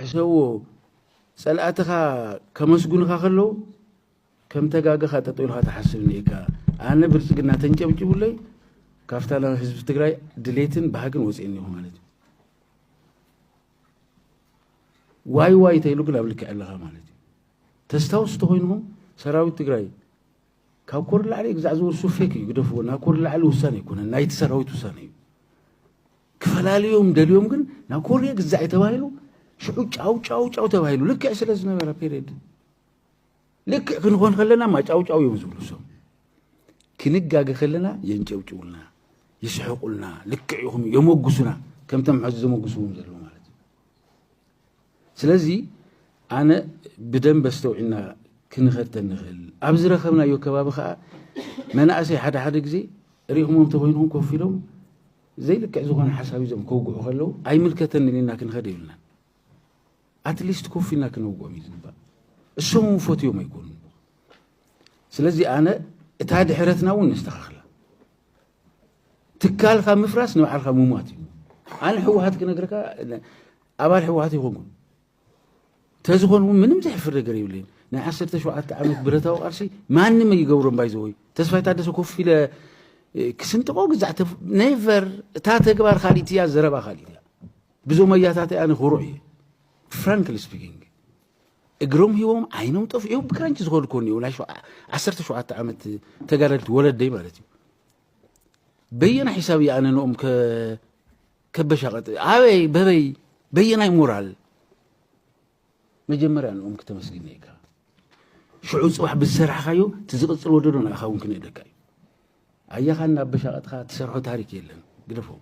ሕሰብዎ ጸላእትኻ ከመስጉንኻ ከለው ከም ተጋገኻ ጠጠው ኢልኻ ትሓስብ እኒኤካ። ኣነ ብልጽግና ተንጨብጭቡለይ ካብታ ናይ ህዝቢ ትግራይ ድሌትን ባህግን ወፂኤ እኒኹ ማለት እዩ። ዋይ ዋይ ተይሉ ግን ኣብ ልክዕ ኣለኻ ማለት እዩ። ተስታውሱ ተኮይንኹም ሰራዊት ትግራይ ካብ ኮር ላዕሊ ግዛዕ ዝውርሱ ፌክ እዩ ግደፍዎ ናብ ኮር ላዕሊ ውሳነ ኣይኮነን ናይቲ ሰራዊት ውሳነ እዩ ክፈላልዮም ደልዮም ግን ናብ ኮርየ ግዛዕ እዩ ተባሂሉ ሽዑ ጫው ጫው ጫው ተባሂሉ ልክዕ ስለ ዝነበረ ፔሬድ ልክዕ ክንኾን ከለና ማጫው ጫው እዮም ዝብሉ ሰም ክንጋገ ከለና የንጨብጭቡልና ይስሕቁልና ልክዕ ይኹም የመጉሱና ከምቶም ሕዚ ዘመጉስዎም ዘለዉ ማለት እዩ ስለዚ ኣነ ብደንበ ኣስተውዒልና ክንኸድ ተንኽእል ኣብ ዝረኸብናዮ ከባቢ ከዓ መናእሰይ ሓደ ሓደ ግዜ ሪእኹሞም ተኮይንኹም ኮፍ ኢሎም ዘይልክዕ ዝኾነ ሓሳብ እዞም ከውግዑ ከለዉ ኣይምልከተንን ኢልና ክንኸድ የብልናን ኣትሊስት ኮፍ ኢልና ክነውግኦም እዩ ዝግባእ እሶም እውን ፈትዮም ኣይኮኑ ስለዚ ኣነ እታ ድሕረትና እውን ነስተኻኽላ ትካልካ ምፍራስ ንባዕልካ ምሟት እዩ ኣነ ሕወሓት ክነግርካ ኣባል ሕወሓት ይኾንኩም ተዝኾን እውን ምንም ዘሕፍር ነገር የብለይን ናይ ዓሰርተ ሸውዓተ ዓመት ብረታዊ ቃልሲ ማንም ይገብሮ እምባይ ዘወይ ተስፋይ ታደሰ ኮፍ ኢለ ክስንጥቆ ግዛዕ ኔቨር እታ ተግባር ካሊት እያ ዘረባ ካሊት እያ ብዞም ኣያታት ኣነ ክሩዕ እየ ፍራንክሊ ስፒኪንግ እግሮም ሂቦም ዓይኖም ጠፊኦም ብክራንች ዝኸዱ ኮን እዮም ናይ ዓሰርተ ሸውዓተ ዓመት ተጋደልቲ ወለደይ ማለት እዩ በየና ሒሳብ እዩ ኣነ ንኦም ከበሻቐጥ ኣበይ በበይ በየናይ ሞራል መጀመርያ ንኦም ክተመስግን እየካ ሽዑ ፅባሕ ብዝሰራሕካዮ እቲ ዝቕፅል ወደዶ ንኣኻ እውን ክንእደካ እዩ ኣያኻ እናበሻቐጥካ ትሰርሖ ታሪክ የለን ግደፎም